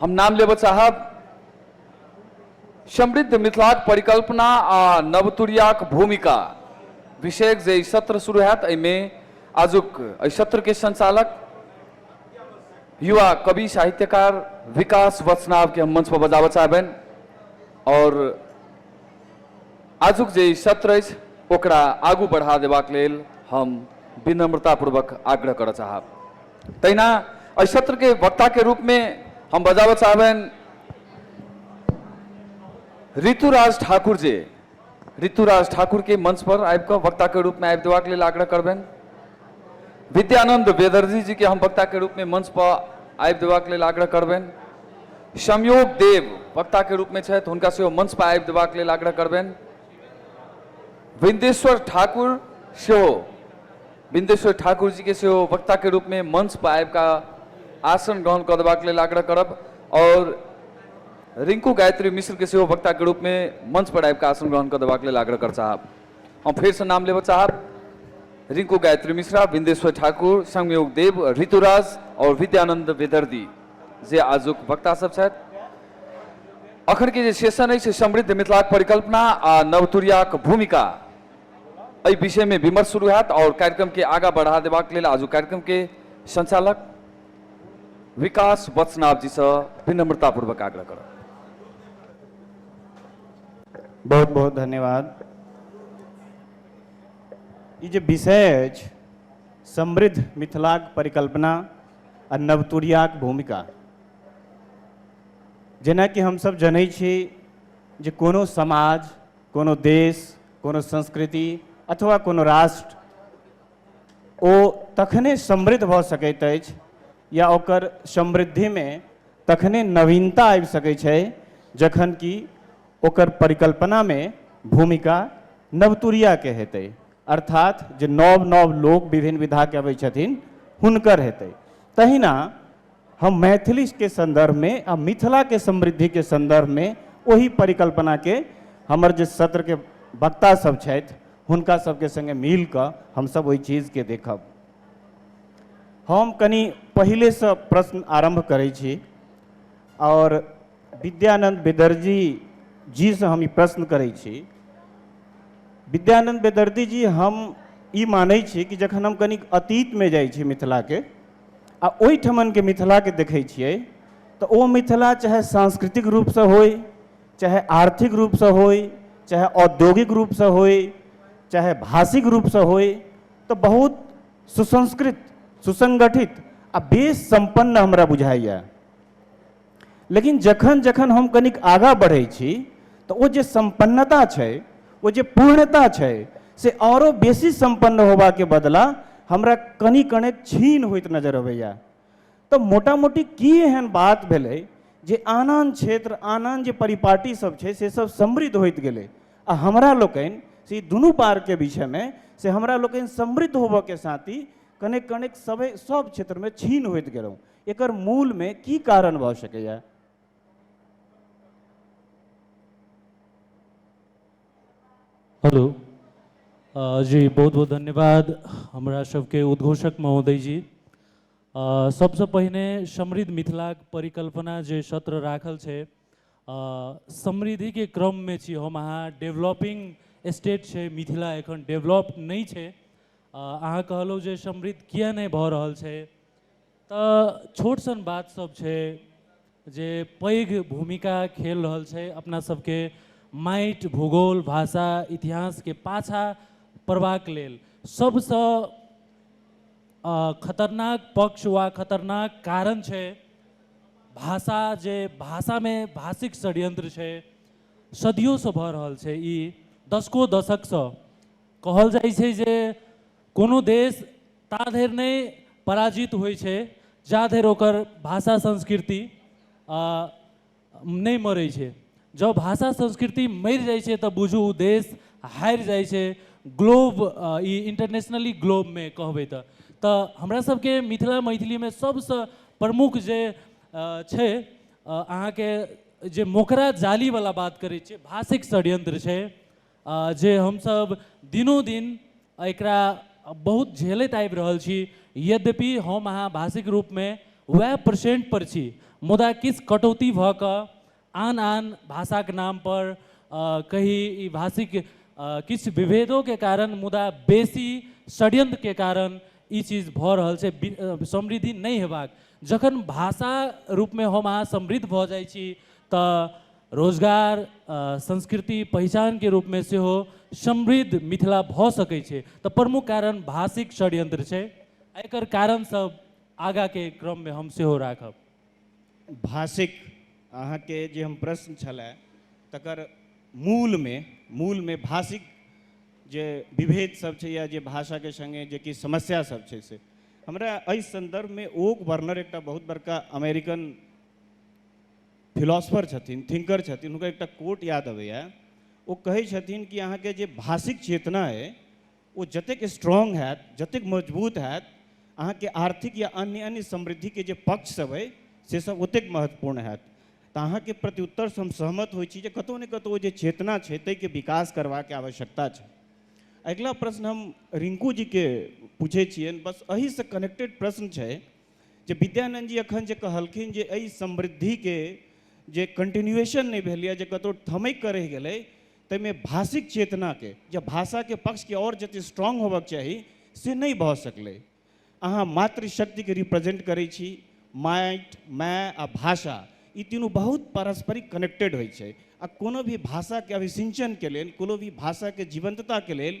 हम नाम लेबऽ चाहब समृद्ध मिथिलाक परिकल्पना आ नवतुरियाक भूमिका विषयक जे ई सत्र शुरू होयत एहिमे आजुक एहि सत्रके संचालक युवा कवि साहित्यकार विकास वचनावके हम मंच पर बजाबऽ चाहबनि आओर आजुक जे ई सत्र अछि ओकरा आगू बढ़ा देबाक लेल हम विनम्रतापूर्वक आग्रह करऽ चाहब तहिना एहि सत्र के वक्ता के रूप में हम बजाबऽ चाहबनि ऋतुराज ठाकुर जे ऋतुराज ठाकुर के मंच पर आबि कऽ वक्ता के रूप में आबि देबाक लेल आग्रह करबनि विद्यानंद बेदर्जी जी के हम वक्ता के रूप में मंच पर आबि देबाक लेल आग्रह करबनि संयोग देव वक्ता के रूप में छथि हुनका सेहो मंच पर आबि देबाक लेल आग्रह करबनि बिंदेश्वर ठाकुर सेहो बिंदेश्वर ठाकुर जी के सेहो वक्ता के रूप में मंच पर आबि का आसन ग्रहण कर देबाक लेल आग्रह करब और रिंकू गायत्री मिश्र के सेहो वक्ता के रूप में मंच पर आबि का आसन ग्रहण कर देबाक लेल आग्रह कर चाहब हम फिर से नाम लेबऽ चाहब रिंकू गायत्री मिश्रा बिंदेश्वर ठाकुर संयोग देव ऋतुराज और विद्यानंद विदर्दी जे आजुक वक्ता सब छथि अखन के जे सेशन अछि समृद्ध मिथिलाक परिकल्पना आ नवतुरियाक भूमिका एहि विषय में विमर्श शुरू होयत और कार्यक्रम के आगा बढ़ा देबाक लेल आजु कार्यक्रम के संचालक विकास वत्सनाभ जी से विनम्रता पूर्वक आग्रह करब बहुत बहुत धन्यवाद ई जे विषय अछि समृद्ध मिथिलाक परिकल्पना आ नवतुरियाक भूमिका जेनाकि हमसभ जनै छी जे कोनो समाज कोनो देश कोनो संस्कृति अथवा कोनो राष्ट्र ओ तखने समृद्ध भऽ सकैत अछि या ओकर समृद्धिमे तखने नवीनता आबि सकै छै जखन कि ओकर परिकल्पनामे भूमिका नवतुरियाके हेतै अर्थात जे नव नव लोक विभिन्न विधाके अबै छथिन हुनकर हेतै तहिना हम मैथिलीके सन्दर्भमे आ मिथिलाके समृद्धिके सन्दर्भमे ओहि परिकल्पनाके हमर जे सत्रके वक्ता सब छथि हुनका सबके सङ्गे मिल कऽ हमसब ओहि चीजके देखब हम कनि पहिलेसँ प्रश्न आरम्भ करै छी आओर विद्यानन्द बेदर्जी जीसँ हम ई प्रश्न करै छी विद्यानन्द बेदर्दी जी हम ई मानै छी कि जखन हम कनिक अतीतमे जाइ छी मिथिलाके आ ओहिठमन के मिथिला के देखै छियै तऽ ओ मिथिला चाहे सांस्कृतिक रूप सँ होय चाहे आर्थिक रूप सँ होय चाहे औद्योगिक रूप सँ होय चाहे भाषिक रूप सँ होय तऽ बहुत सुसंस्कृत सुसंगठित आ बेस सम्पन्न हमरा बुझाइए लेकिन जखन जखन हम कनिक आगाँ बढ़ै छी तऽ ओ जे सम्पन्नता छै ओ जे पूर्णता छै से आओरो बेसी सम्पन्न होबाके बदला हमरा कनि कने छीन होइत नजर अबैए तऽ मोटा मोटी की एहन बात भेलै जे आन आन क्षेत्र आन आन जे परिपाटी सब छै से सब समृद्ध होइत गेलै आ हमरा लोकनि से ई दुनू पारके विषयमे से हमरा लोकनि समृद्ध होबऽके साथ ही कनेक कनेक सबै सब क्षेत्रमे छीन होइत गेलहुँ एकर मूल में की कारण भ सकैया हेलो अ, जी बहुत बहुत धन्यवाद हमरा सबके उद्घोषक महोदय जी अ, सबसँ पहिने समृद्ध मिथिलाक परिकल्पना जे सत्र राखल छै अ, समृद्धिके क्रममे छी हम अहाँ डेवलपिंग स्टेट छै मिथिला एखन डेवलप नहि छै अ, अहाँ कहलहुँ जे समृद्ध किए नहि भऽ रहल छै तऽ छोट सन बात सब छै जे पैघ भूमिका खेल रहल छै अपना सबके माइट भूगोल भाषा इतिहास के पाछा पड़बाक लेल सब सँ अ खतरनाक पक्ष वा खतरनाक कारण छै भाषा जे भाषा मे भाषिक षड्यंत्र छै सदियो सँ भऽ रहल छै ई दशकों दशक सँ कहल जाइ छै जे कोनो देश ता धरि नहि पराजित होइ छै जा धरि ओकर भाषा संस्कृति नहि मरै छै जँ भाषा संस्कृति मरि जाइ छै तऽ बुझू ओ देश हारि जाइ छै ग्लोब ई इंटरनेशनली ग्लोबमे कहबै तऽ तऽ हमरा सबके मिथिला मैथिलीमे सबसँ प्रमुख जे छै अहाँके जे मोकरा जालीवला बात करै छियै भाषिक षड्यंत्र छै अ, जे हमसब दिनोदिन एकरा बहुत झेलैत आबि रहल छी। यद्यपि हम अहाँ भाषिक रूपमे वएह परसेंट पर छी मुदा किछु कटौती भऽ कऽ आन-आन भाषाक नाम पर अ, कही ई भाषिक अ, किछु विभेदोके कारण मुदा बेसी षड्यंत्रके कारण ई चीज भऽ रहल छै बि- अ, समृद्धि नहि हेबाक। जखन भाषा रूपमे हम अहाँ समृद्ध भऽ जाइ छी तऽ रोजगार संस्कृति पहिचानके रूपमे सेहो समृद्ध मिथिला भऽ सकै छै तऽ प्रमुख कारण भाषिक षड्यंत्र छै एकर कारण सब आगाके क्रममे हम सेहो राखब भाषिक अहाँके जे हम प्रश्न छलै तकर मूलमे मूलमे भाषिक जे विभेद सब छै या जे भाषाके सङ्गे जे किछु समस्या सब छै से हमरा एहि सन्दर्भमे ओक वर्नर एकटा बहुत बड़का अमेरिकन फिलॉसफर छथिन थिंकर छथिन हुनकर एकटा कोट याद अबैए ओ कहै छथिन कि अहाँके जे भाषिक चेतना अइ ओ जतेक स्ट्रॉन्ग हैत जतेक मजबूत हैत अहाँके आर्थिक या अन्य अन्य समृद्धिके जे पक्षसभ अइ से सब ओतेक महत्वपूर्ण हैत तऽ अहाँके प्रत्युत्तरसँ हम सहमत होइ छी जे कतहु ने कतहु ओ जे चेतना छै ताहिके विकास करबाके आवश्यकता छै अगिला प्रश्न हम रिंकू जीके पूछै छियनि बस एहिसँ कनेक्टेड प्रश्न छै जे विद्यानंद जी अखन जे कहलखिन जे एहि समृद्धिके जे कंटिन्यूएशन नहि भेल यऽ जे कतौ ठमैक कऽ रहि गेलै ताहिमे भाषिक चेतनाके जे भाषाके पक्षके आओर जतेक स्ट्रांग होबक चाही से नहि भऽ सकलै अहाँ मातृशक्तिके रिप्रेजेंट करै छी माटि माय आ भाषा ई तीनू बहुत पारस्परिक कनेक्टेड होइ छै आ कोनो भी भाषाके अभिसिंचनके लेल कोनो भी भाषाके जीवंतताके लेल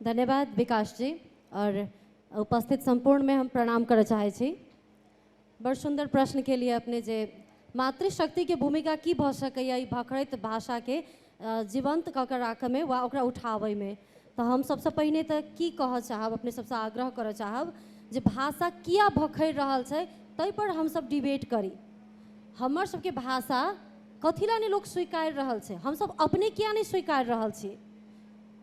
धन्यवाद विकास जी और उपस्थित संपूर्ण में हम प्रणाम करऽ चाहै छी बड़ सुंदर प्रश्न के लिए अपने जे मातृशक्ति के भूमिका की भऽ सकैया ई भखरैत भाषा के अ, जीवंत कऽ के राखऽ में वा ओकरा उठाबै में तऽ हम सबसँ पहिने तऽ की कहऽ चाहब अपने सबसँ आग्रह करऽ चाहब जे भाषा किया भखरि रहल छै ताहि पर हम सब डिबेट करी हमर सबके भाषा कथी लए नहि लोक स्वीकारि रहल छै हमसब अपने किया नहि स्वीकारि रहल छी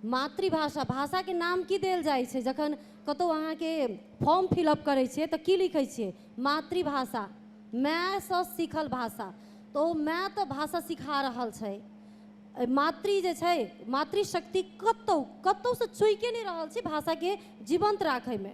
मातृभाषा भाषाके नाम की देल जाइ छै जखन कतहु अहाँके फॉर्म फिलअप करै छियै तऽ की लिखै छियै मातृभाषा मायसँ सीखल भाषा तऽ ओ माय तऽ भाषा सिखा रहल छै मातृ जे छै मातृशक्ति कतहु कतहुसँ चूकि नहि रहल छै भाषाके जीवन्त राखैमे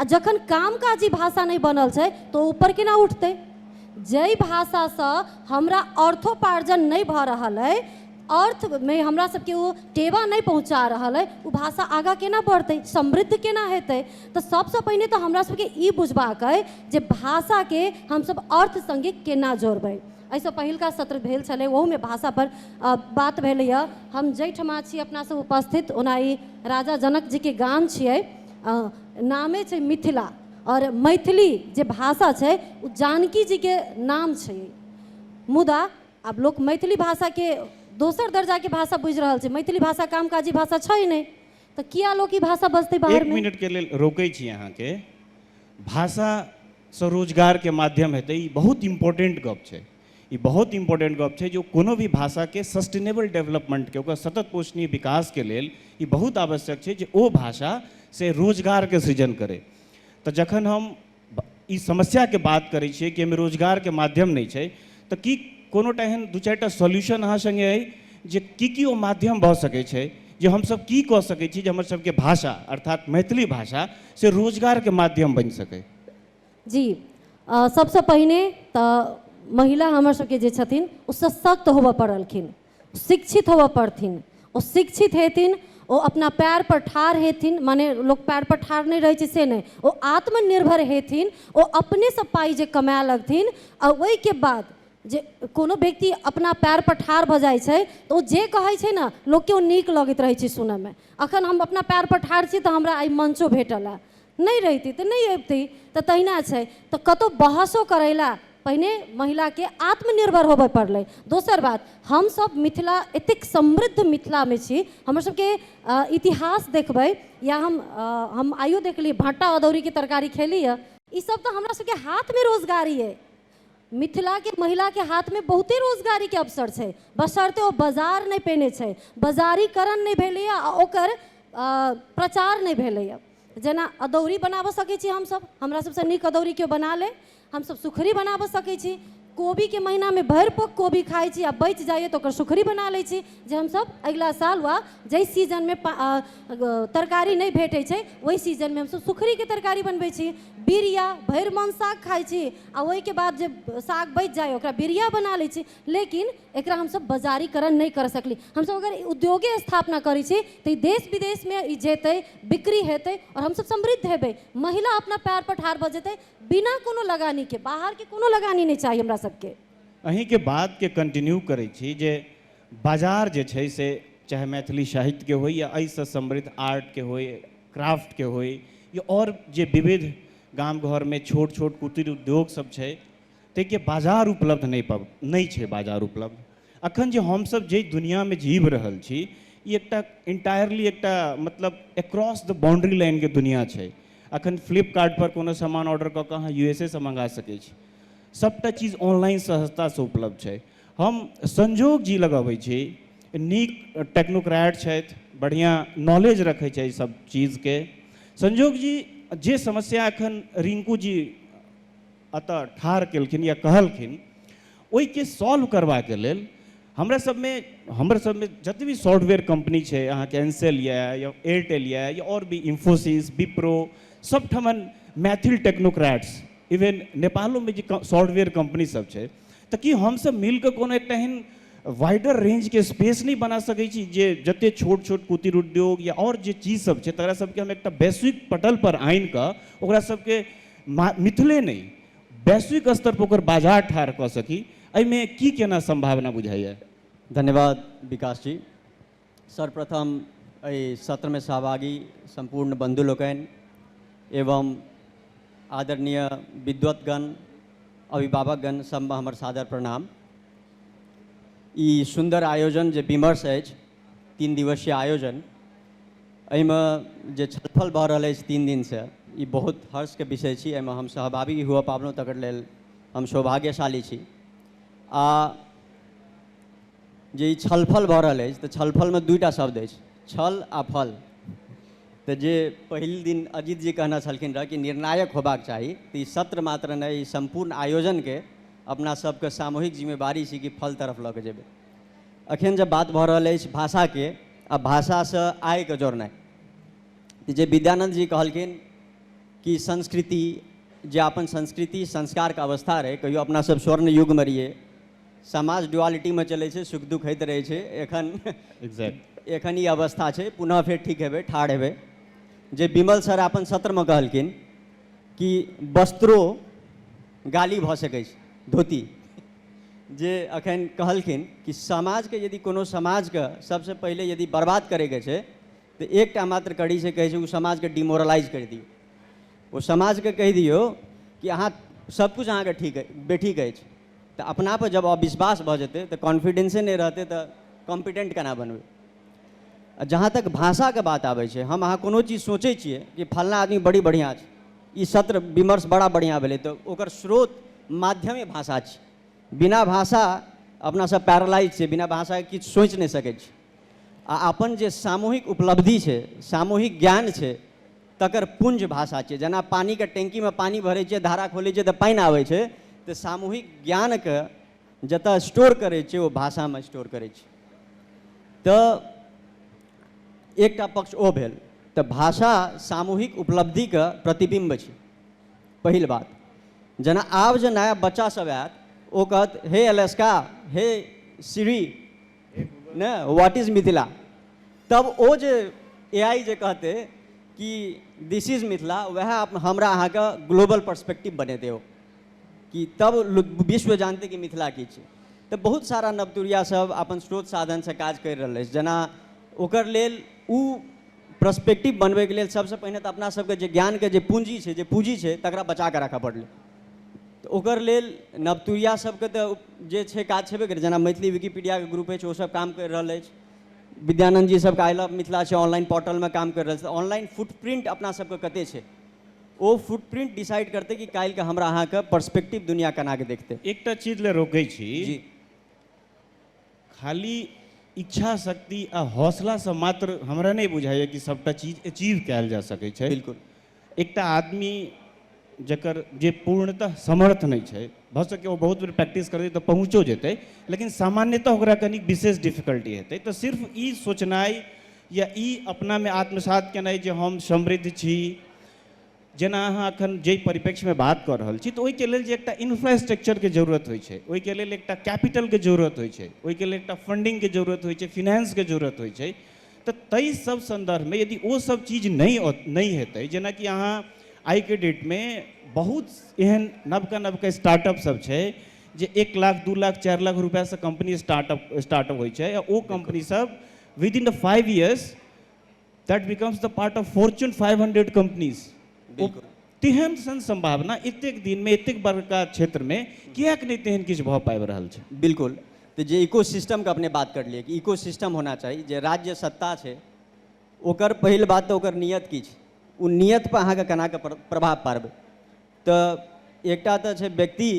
आ जखन कामकाजी भाषा नहि बनल छै तऽ ओ ऊपर केना उठतै जाहि भाषासँ हमरा अर्थोपार्जन नहि भऽ रहल अइ अर्थमे हमरा सबके ओ टेवा नहि पहुँचा रहल अइ ओ भाषा आगाँ केना बढ़तै समृद्ध केना हेतै तऽ सबसँ पहिने तऽ हमरा सबके ई बुझबाक अइ जे भाषाके हमसब अर्थ सङ्गे केना जोड़बै एहिसँ पहिलका सत्र भेल छलै ओहूमे भाषापर अ, बात भेलैए हम जाहिठमा छी अपनासब उपस्थित ओना ई राजा जनकजीके गाम छियै नामे छै मिथिला आओर मैथिली जे भाषा छै ओ जानकी जीके नाम छै मुदा आब लोक मैथिली भाषाके दोसर दर्जाके भाषा बुझि रहल छै मैथिली भाषा कामकाजी भाषा छै नहि तऽ किया लोक ई भाषा बजतै बाहर एक मिनटके लेल रोकै छी अहाँके भाषा स्वरोजगारके माध्यम हेतै ई बहुत इम्पोर्टेन्ट गप छै ई बहुत इम्पोर्टेन्ट गप छै जे ओ कोनो भी भाषाके सस्टेनेबल डेवलपमेन्टके ओकर सतत पोषणीय विकासके लेल ई बहुत आवश्यक छै जे ओ भाषा से रोजगारके सृजन करै तऽ जखन हम ई समस्याके बात करै छियै कि एहिमे रोजगारके माध्यम नहि छै तऽ की कोनो टा एहन दू चारि टा सॉल्यूशन अहाँ सङ्गे अइ जे की की ओ माध्यम भऽ सकै छै जे हमसभ की कऽ सकै छी जे हमर सभके भाषा अर्थात मैथिली भाषा से रोजगारके माध्यम बनि सकै जी अ, सबसँ पहिने तऽ महिला हमर सबके जे छथिन ओ सशक्त होबऽ पड़लखिन शिक्षित होबऽ पड़थिन ओ शिक्षित हेथिन ओ अपना पैर पर ठाढ़ हेथिन माने लोक पैर पर ठाढ़ नहि रहै छै से नहि ओ आत्मनिर्भर हेथिन ओ अपनेसँ पाइ जे कमाए लगथिन आ ओहिके बाद जे कोनो व्यक्ति अपना पैर पर ठाढ़ भऽ जाइ छै तऽ ओ जे कहै छै ने लोकके ओ नीक लगैत रहै छै सुनऽमे अखन हम अपना पैर पर ठाढ़ छी तऽ हमरा आइ मंचो भेटल हँ नहि रहिती तऽ नहि अबिती तऽ तहिना छै तऽ कतहु बहसो करै लए पहिने महिलाके आत्मनिर्भर होबय पड़लै दोसर बात हमसभ मिथिला एतेक समृद्ध मिथिलामे छी हमरसभके इतिहास देखबै या हम हम आइयो देखलियै भट्टा अदौरीके तरकारी खेली यए ईसभ तऽ हमरासभके हाथमे रोजगारी अइ मिथिला के महिला के हाथ में बहुते रोजगारी के अवसर छै बशर्ते ओ बाजार नहि पेने छै बाजारीकरण नहि भेलैए आ ओकर प्रचार नहि भेलैए जेना अदौरी बनाबऽ सकै छी हमसभ हमरा सभसँ नीक अदौरी केओ बना ले हमसभ सुखरी बनाबऽ सकै छी कोबीके महिनामे भरि पोक कोबी खाइ छी आ बचि जाइए तऽ ओकर सुखरी बना लै छी जे हमसभ अगिला साल वा जाहि सीजनमे तरकारी नहि भेटै छै ओहि सीजनमे हमसभ सुखड़ीके तरकारी बनबै छी बीरिया भरि मन साग खाइ छी आ ओहिके बाद जे साग बचि जाइए ओकरा बीरिया बना लै छी लेकिन एकरा हमसभ बाजारीकरण नहि करि सकली हमसभ अगर उद्योगे स्थापना करै छी तऽ ई देश विदेशमे ई जेतै बिक्री हेतै आओर हमसभ समृद्ध हेबै महिला अपना पैर पर ठाढ़ भऽ जेतै बिना कोनो लगानीके बाहरके कोनो लगानी नहि चाही हमरा सभके अहींके बातके कंटिन्यू करै छी जे बाजार जे छै से चाहे मैथिली साहित्य के होइ या एहि सऽ समृद्ध आर्ट के होइ क्राफ्ट के होइ या आओर जे विविध गाम घर मे छोट छोट कुटिर उद्योग सब छै ताहि के बाजार उपलब्ध नहि पाब नहि छै बाजार उपलब्ध अखन जे हम सब जाहि दुनिया मे जीब रहल छी ई एकटा इन्टायरली एकटा मतलब एक्रॉस द बाउंड्री लाइन के दुनिया छै अखन फ्लिपकार्ट पर कोनो समान ऑर्डर कऽ कऽ अहाँ यू एस ए सऽ मंगा सकै छी सबटा चीज ऑनलाइन सहजता सऽ उपलब्ध छै हम संजोग जी लग अबै छी नीक टेक्नोक्रेट छथि बढ़िआँ नॉलेज रखै छथि सब चीजके संजोग जी जे समस्या एखन रिंकू जी एतऽ ठाढ़ केलखिन या कहलखिन ओहिके सॉल्व करबाके लेल हमरा सबमे हमर सबमे जते भी सॉफ्टवेयर कंपनी छै अहाँके एनसेल यऽ या एयरटेल यऽ या आओर भी इन्फोसिस विप्रो सब ठमन मैथिल टेक्नोक्रेट्स इवन नेपालोमे जे सॉफ्टवेयर कंपनी सब छै तऽ की हमसब मिल कऽ कोनो एकटा एहन वाइडर रेंज के स्पेस नहि बना सकै छी जे जते छोट छोट कुटीर उद्योग या आओर जे चीज सब छै तकरा सबके हम एकटा वैश्विक पटल पर आनि कऽ ओकरा सबके मिथिले नहि वैश्विक स्तर पर ओकर बाजार ठाढ़ कऽ सकी एहिमे की केना सम्भावना बुझाइया धन्यवाद विकास जी सर्वप्रथम एहि सत्रमे सहभागी सम्पूर्ण बन्धु लोकनि एवं आदरणीय विद्वतगण अभिभावकगण सबमे हमर सादर प्रणाम ई सुन्दर आयोजन जे विमर्श अछि तीन दिवसीय आयोजन एहिमे जे छलफल भऽ रहल अछि तीन दिनसँ ई बहुत हर्षके विषय छी एहिमे हम सहभागी हुअ पाबलहुँ तकर लेल हम सौभाग्यशाली छी आ जे ई छलफल भऽ रहल अछि तऽ छलफलमे दुइटा शब्द अछि छल आ फल तऽ जे पहिल दिन अजीत जी कहने छलखिन रहऽ कि निर्णायक होबाक चाही तऽ ई सत्र मात्र नहि ई सम्पूर्ण आयोजनके अपना सबके सामूहिक जिम्मेवारी छी कि फल तरफ लऽ कऽ जेबै अखन जब बात भऽ रहल अछि भाषाके आ भाषासँ आयके जोड़नाइ तऽ जे विद्यानन्द जी कहलखिन कि संस्कृति जे अपन संस्कृति संस्कारके अवस्था रहै कहियो अपना सब स्वर्ण युगमे रहियै समाज ड्युआलिटीमे चलै छै सुख दुख होइत रहै छै एखन एग्जैक्ट एखन ई अवस्था छै पुनः फेर ठीक हेबै ठाढ़ हेबै जे विमल सर अपन सत्रमे कहलखिन कि वस्त्रो गाली भऽ सकै छै धोती जे अखन कहलखिन कि समाजके यदि कोनो समाजके सबसँ पहिले यदि बर्बाद करैके छै तऽ एकटा मात्र कड़ी से कहै छै ओ समाजके डिमोरलाइज करि दियौ ओ समाजके कहि दियौ कि अहाँ सबकिछु अहाँके ठीक अछि बेठीक अछि तऽ अपना पर जब अविश्वास भऽ जेतै तऽ कॉन्फिडेंसे नहि रहतै तऽ कॉम्पिटेंट केना बनबै आ जहाँ तक भाषाके बात आबै छै हम अहाँ कोनो चीज सोचै छियै कि फलना आदमी बड़ी बढ़िआँ छै ई सत्र विमर्श बड़ा बढ़िआँ भेलै तऽ ओकर स्रोत माध्यमे भाषा छै बिना भाषा अपनासभ पैरालाइज छै बिना भाषाके किछु सोचि नहि सकै छी आ अपन जे सामूहिक उपलब्धि छै सामूहिक ज्ञान छै तकर पुंज भाषा छियै जेना पानिके टैंकीमे पानि भरै छियै धारा खोलै छियै तऽ पानि आबै छै तऽ सामूहिक ज्ञानके जतऽ स्टोर करै छै ओ भाषामे स्टोर करै छै तऽ एकटा पक्ष ओ भेल तऽ भाषा सामूहिक उपलब्धिके प्रतिबिम्ब छै पहिल बात जेना आब जे नया बच्चासभ आयत ओ कहत हे एलेस्का हे सिरी ने व्हाट इज मिथिला तब ओ जे ए आई जे कहते कि दिस इज मिथिला वह हमरा अहाँ के ग्लोबल पर्सपेक्टिव बने दे कि तब विश्व जानते कि मिथिला की छै तो बहुत सारा नवतुरिया सब अपन स्रोत साधन से काज कर रहा है जना ओकर लेल ओ पर्सपेक्टिव बनबैके लेल सबसे पहिने तऽ अपना सबके जे ज्ञानके जे पूंजी छै जे पूंजी छै तकरा बचा कऽ राखऽ पड़लै तऽ ओकर लेल नवतुरिया सभके तऽ जे छै काज छेबे करै जेना मैथिली विकिपीडियाके ग्रुप अछि ओसभ काम करि रहल अछि विद्यानन्द जी सभके आइ लव मिथिला छै ऑनलाइन पोर्टलमे काम करि रहल छै ऑनलाइन फुटप्रिंट अपना सभके कते छै ओ फुटप्रिंट डिसाइड करतै कि काल्हिके हमरा अहाँके पर्सपेक्टिव दुनिया केनाके देखतै एकटा चीज लए रोकै छी जी खाली इच्छा शक्ति आ हौसलासँ मात्र हमरा नहि बुझाइए कि सभटा चीज अचीव कयल जा सकै छै बिल्कुल एकटा आदमी जकर जे पूर्णतः समर्थ नहि छै भऽ सकै ओ बहुत बेर प्रैक्टिस करतै तऽ पहुँचो जेतै लेकिन सामान्यतः ओकरा कनि विशेष डिफिकल्टी हेतै तऽ सिर्फ ई सोचनाइ या ई अपनामे आत्मसात केनाइ जे हम समृद्ध छी जेना अहाँ एखन जाहि परिप्रेक्ष्यमे बात कऽ रहल छी तऽ ओहिके लेल जे एकटा इन्फ्रास्ट्रक्चरके जरूरत होइ छै ओहिके लेल एकटा कैपिटलके जरूरत होइ छै ओहिके लेल एकटा फंडिंगके जरूरत होइ छै फिनेंसके जरूरत होइ छै तऽ ताहि सब सन्दर्भमे यदि ओ सब चीज नहि नहि हेतै जेनाकि अहाँ आइके डेटमे बहुत एहन नवका नवका स्टार्टअप सब छै जे एक लाख दू लाख चारि लाख रुपैआसँ कम्पनी स्टार्टअप स्टार्टअप होइ छै आ ओ कम्पनी सब with in the five years that becomes the part of fortune five hundred companies बिल्कुल तेहन सन संभावना एतेक दिन में एतेक बड़का क्षेत्र में किएक नहीं तेहन किछु भऽ पाबि रहल छै बिल्कुल तो जे इको सिस्टमके अपने बात करलियै कि इको सिस्टम होना चाही जे राज्य सत्ता छै ओकर पहिल बात तऽ ओकर नियत की छै ओ नियतपर अहाँके केनाके प्र- प्रभाव पाड़बै तऽ एकटा तऽ छै व्यक्ति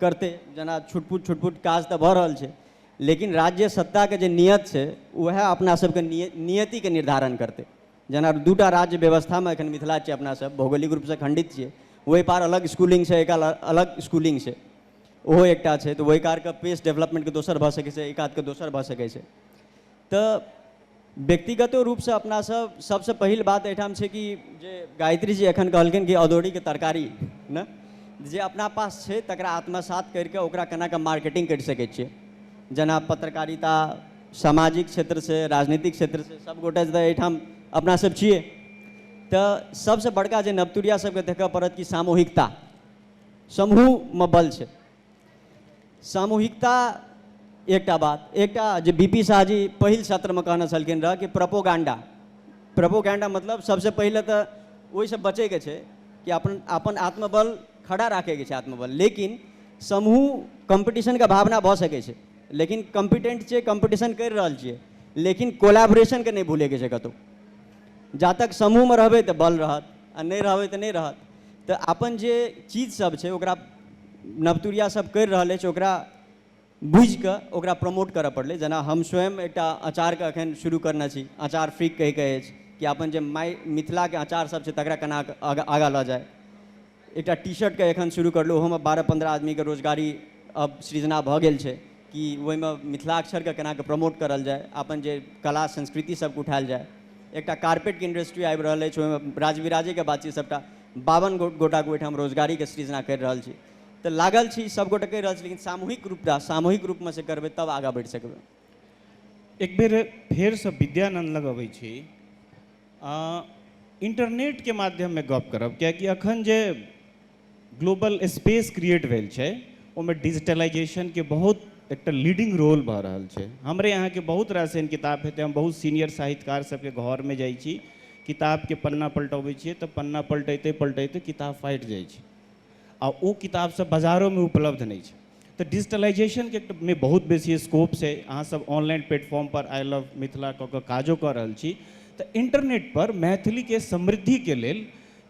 करतै जेना छुटपुट छुटपुट काज तऽ भऽ रहल छै लेकिन राज्य सत्ताके जे नियत छै उएह अपना सबके निय- नियतिके निर्धारण करतै जेना दूटा राज्य व्यवस्था मे एखन मिथिला छियै अपना सब भौगोलिक रूप सऽ खंडित छियै ओहि पार अलग स्कूलिंग छै एक अलग स्कूलिंग छै ओहो एकटा छै तऽ ओहि कारके पेस डेवलपमेन्टके दोसर भऽ सकै छै एहि कातके दोसर भऽ सकै छै तऽ व्यक्तिगतो रूप सऽ अपना सब सब सऽ पहिल बात एहिठाम छै कि जे गायत्री जी एखन कहलखिन कि अदौरी के तरकारी ने जे अपना पास छै तकरा आत्मसात कैर कऽ ओकरा केना कऽ मार्केटिंग कैर सकै छियै जेना पत्रकारिता सामाजिक क्षेत्रसँ राजनीतिक क्षेत्रसँ सभ गोटे तऽ एहिठाम अपना सभ छियै तऽ सभसँ बड़का जे नवतुरिया सभके देखय पड़त कि सामूहिकता समूहमे बल छै सामूहिकता एकटा बात एकटा जे बी पी शाह जी पहिल सत्रमे कहने छलखिन रहऽ कि प्रपोगांडा प्रपोगांडा मतलब सभसँ पहिले तऽ ओहिसँ बचैके छै कि अपन अपन आत्मबल खड़ा राखैके छै आत्मबल लेकिन समूह कम्पीटिशनके भावना भऽ सकै छै लेकिन कम्पिटेंट छियै कम्पटिशन करि रहल छियै लेकिन कोलाबरेशनके नहि भूलैके छै कतहु जा तक समूहमे रहबै तऽ बल रहत आ नहि रहबै तऽ नहि रहत तऽ अपन जे चीजसभ छै ओकरा नवतुरिया सब करि रहल अछि ओकरा बुझि कऽ ओकरा प्रमोट करऽ पड़लै जेना हम स्वयं एकटा अचारके अखन शुरू करने छी अचार फ्रीक कहिके अछि कि अपन जे माय मिथिलाके अचार सब छै तकरा केना आगाँ लऽ जाइ एकटा टी शर्ट के एखन शुरू करलहुँ ओहोमे बारह पन्द्रह आदमीके रोजगारी अब सृजना भऽ गेल छै कि ओहिमे मिथिलाक्षरके केनाके प्रमोट करल जाय अपन जे कला संस्कृति सभके उठायल जाय एकटा कार्पेटके इंडस्ट्री आबि रहल अछि ओहिमे राजविराजेके बात छै सभटा बावन गो गोटाके ओहिठाम रोजगारीके सृजना करि रहल छी तऽ लागल छी सभगोटे कहि रहल छी लेकिन सामूहिक रूपटा सामूहिक रूपमे से करबै तब आगाँ बढ़ि सकबै एक बेर फेरसँ विद्यानन्द लग अबै छी आ इन्टरनेटके माध्यममे गप करब किएकि अखन जे ग्लोबल स्पेस क्रिएट भेल छै ओहिमे डिजिटलाइजेशनके बहुत एकटा लीडिंग रोल भऽ रहल छै हमरे अहाँके बहुत रास एहन किताब हेतै हम बहुत सीनियर साहित्यकार सबके घरमे जाइ छी किताबके पन्ना पलटबै छियै तऽ पन्ना पलटैते पलटैते किताब फाटि जाइ छै आ ओ किताब सब बजारोमे उपलब्ध नहि छै तऽ डिजिटलाइजेशनके मे बहुत बेसी स्कोप छै अहाँ सब ऑनलाइन प्लेटफॉर्म पर आई लव मिथिला कऽ कऽ काजो कऽ रहल छी तऽ इंटरनेट पर मैथिली के समृद्धि के लेल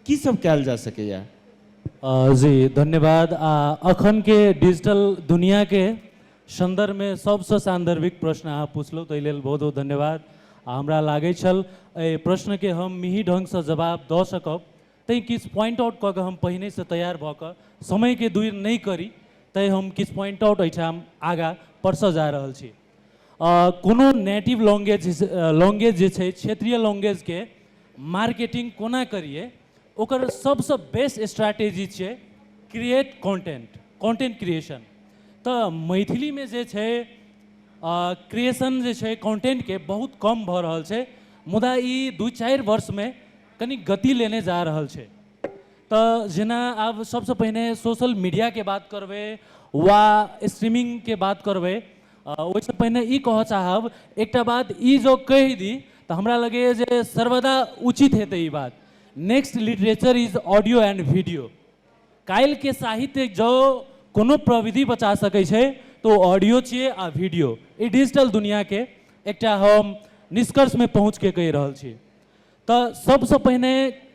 की सब कयल जा सकैया अ, जी धन्यवाद आ अखन के डिजिटल दुनिया के संदर्भ में सबसे सान्दर्भिक प्रश्न अहाँ पूछलहुँ ताहि लेल बहुत बहुत धन्यवाद आ हमरा लागै छल एहि प्रश्न के हम मिही ढंग से जवाब दऽ सकब तैं किछु पॉइंट आउट कऽ कऽ हम पहिनेसँ तैयार भऽ कऽ समयके दूरि नहि करी तैं हम किछु पॉइंट आउट एहिठाम आगाँ परसऽ जा रहल छी कोनो नेटिव लैंग्वेज लैंग्वेज जे छै क्षेत्रीय लैंग्वेजके मार्केटिंग कोना करियै ओकर सभसँ बेस्ट स्ट्रैटेजी छियै क्रिएट कॉन्टेंट कॉन्टेंट क्रिएशन तऽ मैथिलीमे जे छै क्रिएशन जे छै कॉन्टेंटके बहुत कम भऽ रहल छै मुदा ई दू चारि वर्षमे कनि गति लेने जा रहल छै तऽ जेना आब सभसँ पहिने सोशल मीडियाके बात करबै वा स्ट्रीमिंगके बात करबै ओहिसँ पहिने ई कहऽ चाहब एकटा बात ई जँ कहि दी तऽ हमरा लगैए जे सर्वदा उचित हेतै ई बात next literature is audio and video काल्हिके साहित्य जँ कोनो प्रविधि बचा सकै छै तऽ ओ ऑडियो छियै आ वीडियो ई डिजिटल दुनिआँके एकटा हम निष्कर्षमे पहुँचके कहि रहल छी तऽ सबसँ पहिने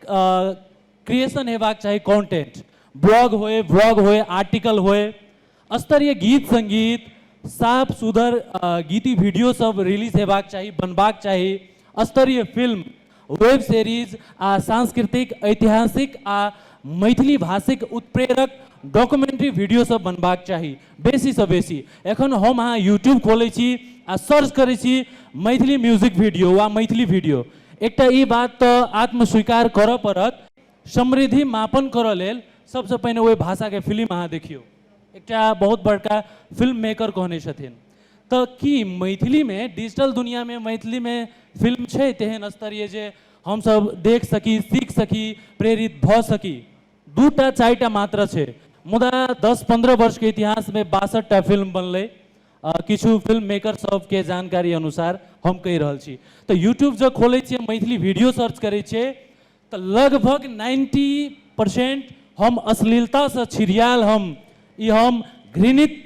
क्रिएशन हेबाक चाही कॉन्टेंट ब्लॉग होय व्लॉग होय आर्टिकल होय स्तरीय गीत संगीत साफ सुधर गीति वीडियो सब रिलीज हेबाक चाही बनबाक चाही स्तरीय फिल्म वेब सीरीज आ सांस्कृतिक ऐतिहासिक आ मैथिली भाषिक उत्प्रेरक डॉक्यूमेंट्री वीडियो सब बनबाक चाही बेसीसँ बेसी एखन हम अहाँ यूट्यूब खोलै छी आ सर्च करै छी मैथिली म्यूजिक वीडियो वा मैथिली वीडियो एकटा ई बात तऽ आत्मस्वीकार करऽ पड़त समृद्धि मापन करऽ लेल सबसँ पहिने ओहि भाषाके फिल्म अहाँ देखियौ एकटा बहुत बड़का फिल्म मेकर कहने छथिन तऽ की मैथिलीमे डिजिटल दुनियामे मैथिलीमे फिल्म छै तेहन स्तरीय जे हमसब देख सकी सीख सकी प्रेरित भऽ सकी दू टा चारि टा मात्र छै मुदा दस पन्द्रह वर्षके इतिहासमे बासठ टा फिल्म बनलै किछु फिल्म मेकर सबके जानकारी अनुसार हम कहि रहल छी तऽ यूट्यूब जब खोलै छियै मैथिली वीडियो सर्च करै छियै तऽ लगभग नाइन्टी परसेंट हम अश्लीलतासँ छिड़ियाल हम ई हम घृणित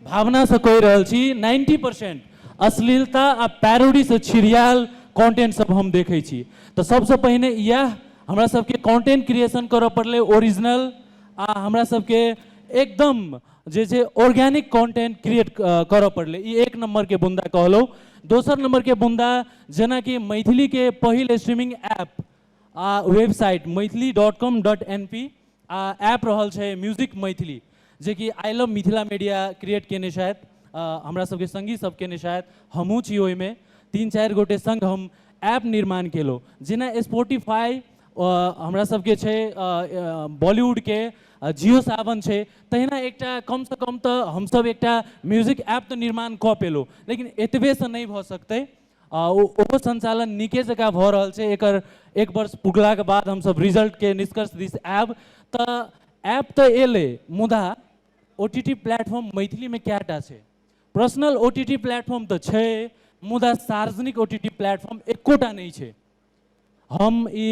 भावनासँ कहि रहल छी नाइन्टी परसेंट अश्लीलता आ पैरोडीसँ छिड़ियाल कॉन्टेंट सब हम देखै छी तऽ सबसँ पहिने इएह हमरा सबके कॉन्टेंट क्रिएशन करऽ पड़लै ओरिजिनल आ हमरा सबके एकदम जे छै ऑर्गेनिक कॉन्टेंट क्रिएट करऽ पड़लै ई एक नम्बरके बुन्दा कहलहुँ दोसर नम्बरके बुन्दा जेनाकि मैथिलीके पहिल स्ट्रीमिंग ऐप आ website Maithili dot com dot N P आ ऐप रहल छै म्यूजिक मैथिली जेकि I love Mithila media create केने छथि हमरा सबके संगी सब केने छथि हमहूँ छी ओहिमे तीन चारि गोटे संग हम ऐप निर्माण केलहुँ जेना स्पोटिफाई हमरा सबके छै बॉलीवुडके जियो सावन छै तहिना एकटा कमसँ कम तऽ हमसब एकटा म्यूजिक ऐप तऽ निर्माण कऽ पेलहुँ लेकिन एतबेसँ नहि भऽ सकतै आ ओ ओहो सञ्चालन नीके जकाँ भऽ रहल छै एकर एक वर्ष पुगलाके बाद हमसभ रिजल्टके निष्कर्ष दिस आएब तऽ ऐप तऽ अएलै मुदा ओ टी टी प्लेटफॉर्म मैथिलीमे कएटा छै personal O T T platform तऽ छै मुदा सार्वजनिक ओ टी टी प्लेटफॉर्म एकोटा नहि छै हम ई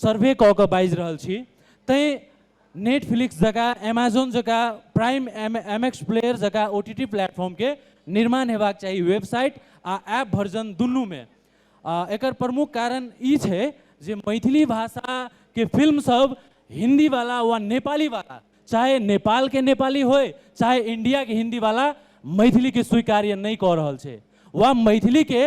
सर्वे कऽ कऽ बाजि रहल छी तैँ नेटफ्लिक्स जकाँ एमेजॉन जकाँ Prime M M X player जकाँ ओ टी टी प्लेटफॉर्मके निर्माण हेबाक चाही वेबसाइट आ ऐप वर्जन दुनूमे आ एकर प्रमुख कारण ई छै जे मैथिली भाषाके फिल्मसभ हिन्दीवला वा नेपालीवला चाहे नेपालके नेपाली होइ चाहे इण्डियाके हिन्दीवला मैथिलीके स्वीकार्य नहि कऽ रहल छै वा मैथिलीके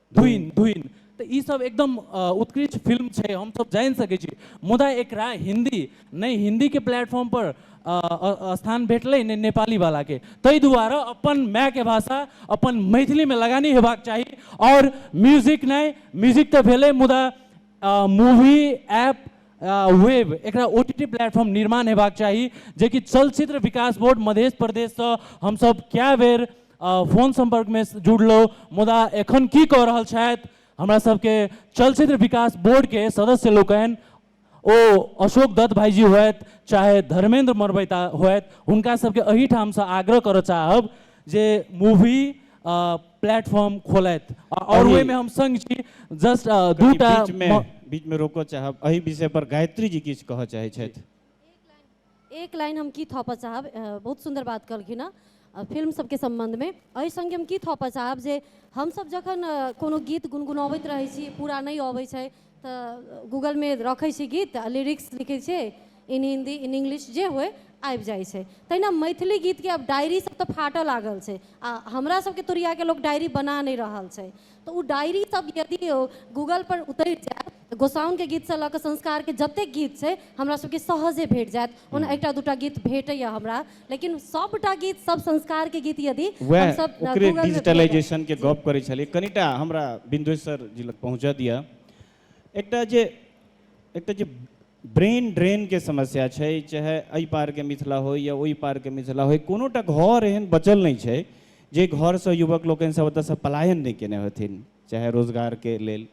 धुइन धुइन तऽ ई सब एकदम उत्कृष्ट फिल्म छै हमसब जानि सकै छी मुदा एकरा हिन्दी नहि हिन्दीके प्लेटफॉर्मपर स्थान भेटलै नहि नेपालीवलाके ताहि दुआरे अपन मायके भाषा अपन मैथिलीमे लगानी हेबाक चाही आओर म्यूजिक नहि म्यूजिक तऽ भेलै मुदा मूवी ऐप वेब एकरा ओ टी टी प्लेटफॉर्म निर्माण हेबाक चाही जेकि चलचित्र विकास बोर्ड मध्य प्रदेशसँ हमसब कए बेर अ, फोन संपर्क में जुड़लो मुदा एखन की कह रहल छथि हमरा सबके चलचित्र विकास बोर्ड के सदस्य लोकनि ओ अशोक दत्त भाईजी होथि चाहे धर्मेंद्र मरबैता होथि हुनका सबके एहिठाम से आग्रह करऽ चाहब जे मूवी प्लेटफॉर्म खोलथि आ- और अही- ओहि में हम संग छी जस्ट कनी दूटा बीच में म- बीच में रोको चाहब एहि विषय पर गायत्री जी किछु कहऽ चाहै छथि एक लाइन हम की थपऽ चाहब अ, बहुत सुन्दर बात कहलखिन हँ अ, फिल्म सबके सम्बन्धमे एहि सङ्गे हम की थपऽ चाहब जे हमसब जखन अ, कोनो गीत गुनगुनबैत रहै छी पूरा नहि अबै छै तऽ गूगलमे रखै छी गीत आ लिरिक्स लिखै छै इन हिन्दी इन इंग्लिश जे होइ आबि जाइ छै तहिना मैथिली गीतके आब डायरी सब तऽ फाटऽ लागल छै आ हमरा सबके तुरियाके लोक डायरी बना नहि रहल छै तऽ ओ डायरी सब यदि गूगल पर उतरि जायत तऽ गोसाउनके गीतसँ लऽ कऽ संस्कारके जतेक गीत छै हमरा सबके सहजे भेट जायत ओना एकटा दूटा गीत भेटैए हमरा लेकिन सभटा गीत सब संस्कारके गीत यदि वएह हमसब ओकरे गूगलमे भेटत। डिजिटलाइजेशन के गप करै छलियै कनिटा हमरा बिंदेश्वर जी लग पहुँचऽ दिअ एकटा जे एकटा जे ब्रेन ड्रेन के समस्या छै चाहे एहि पार के मिथिला हो या ओहि पार के मिथिला हो कोनो टा घर एहन बचल नहि छै जे घर से युवक लोकनि सब ओतऽ से पलायन नहि केने हेथिन चाहे रोजगार के लेल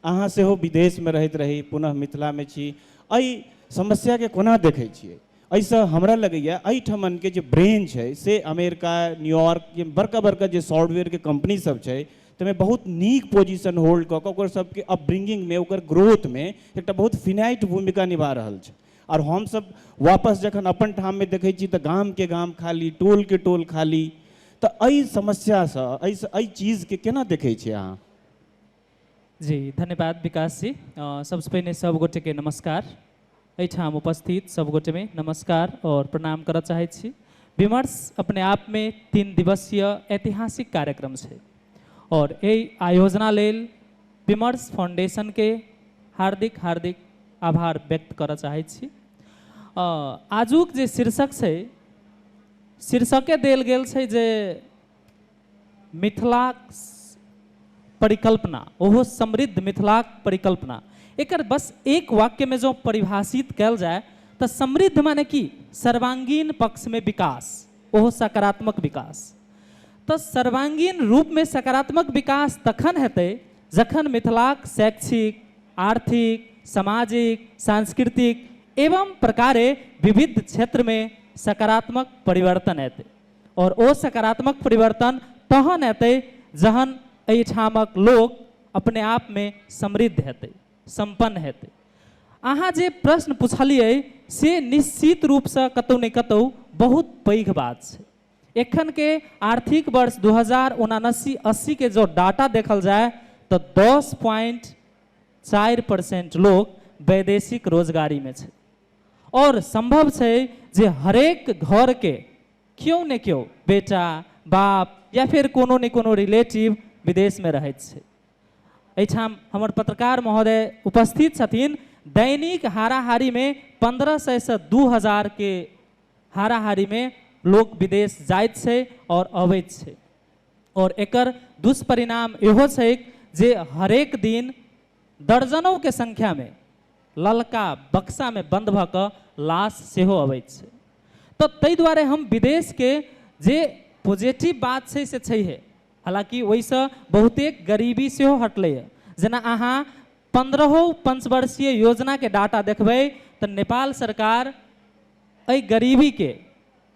अहाँ सेहो विदेश मे रहैत रही पुनः मिथिला मे छी एहि समस्या के कोना देखै छियै एहिसँ हमरा लगैए एहिठमनके जे ब्रेन छै से अमेरिका न्यूयॉर्क जे बड़का बड़का जे सॉफ्टवेयरके कम्पनीसब छै ताहिमे बहुत नीक पोजिशन होल्ड कऽ कऽ ओकर सबके अपब्रिंगिंगमे ओकर ग्रोथमे एकटा बहुत फिनाइट भूमिका निभा रहल छै आओर हमसब वापस जखन अपन ठाममे देखै छी तऽ गामके गाम खाली टोलके टोल खाली तऽ एहि समस्यासँ एहिसँ एहि चीजके कोना देखै छिए अहाँ जी धन्यवाद विकास जी सबसे पहले सब गोटे के नमस्कार एठाम उपस्थित सब गोटे में नमस्कार और प्रणाम करऽ चाहे छी विमर्श अपने आप में तीन दिवसीय ऐतिहासिक कार्यक्रम है और ए आयोजना लेल विमर्श फाउंडेशन के हार्दिक हार्दिक आभार व्यक्त करऽ चाहे छी अ, आजुक जे शीर्षक छै शीर्षके देल गेल छै जे मिथिलाक परिकल्पना ओहो समृद्ध मिथिलाक परिकल्पना एकर बस एक वाक्य में जो परिभाषित कैल जाए तो समृद्ध माने कि सर्वांगीण पक्ष में विकास ओहो सकारात्मक विकास तो सर्वांगीण रूप में सकारात्मक विकास तखन हेतु जखन मिथिलाक शैक्षिक आर्थिक सामाजिक सांस्कृतिक एवं प्रकारे विविध क्षेत्र में सकारात्मक परिवर्तन हेतु आओर ओ सकारात्मक परिवर्तन तहन एतै जहन एहिठामक लोक अपने आपमे समृद्ध हेतै, सम्पन्न हेतै। अहाँ जे प्रश्न पुछलियै से निश्चित रूपसँ कतहु ने कतहु बहुत पैघ बात छै। एखनके आर्थिक वर्ष दू हजार उनासी अस्सी के जँ डाटा देखल जाय तँ दस प्वाइंट चारि परसेंट लोक वैदेशिक रोजगारीमे छै। और संभव छै जे हरेक घर के क्यो ने क्यो बेटा, बाप या फेर कोनो ने कोनो रिलेटिव विदेश में रहैत छै। एहिठाम हमर पत्रकार महोदय उपस्थित छथिन। दैनिक हाराहारी में पन्द्रह सय से दू हजार के हाराहारी में लोक विदेश जाइत छै और अबैत छै और एकर दुष्परिणाम एहो छैक जे हरेक दिन दर्जनौ के संख्या मे ललका बक्सा मे बंद भ क लाश सेहो अबैत छै। त तै दुआरे हम विदेश के जे पोजेटिभ बात छै से छैहे। हालांकि ओहि स बहुतेक गरीबी सेहो हटलै य। जेना अहां पन्द्रहौ पंचवर्षीय योजना के डाटा देखबै त नेपाल सरकार अहि गरीबी के।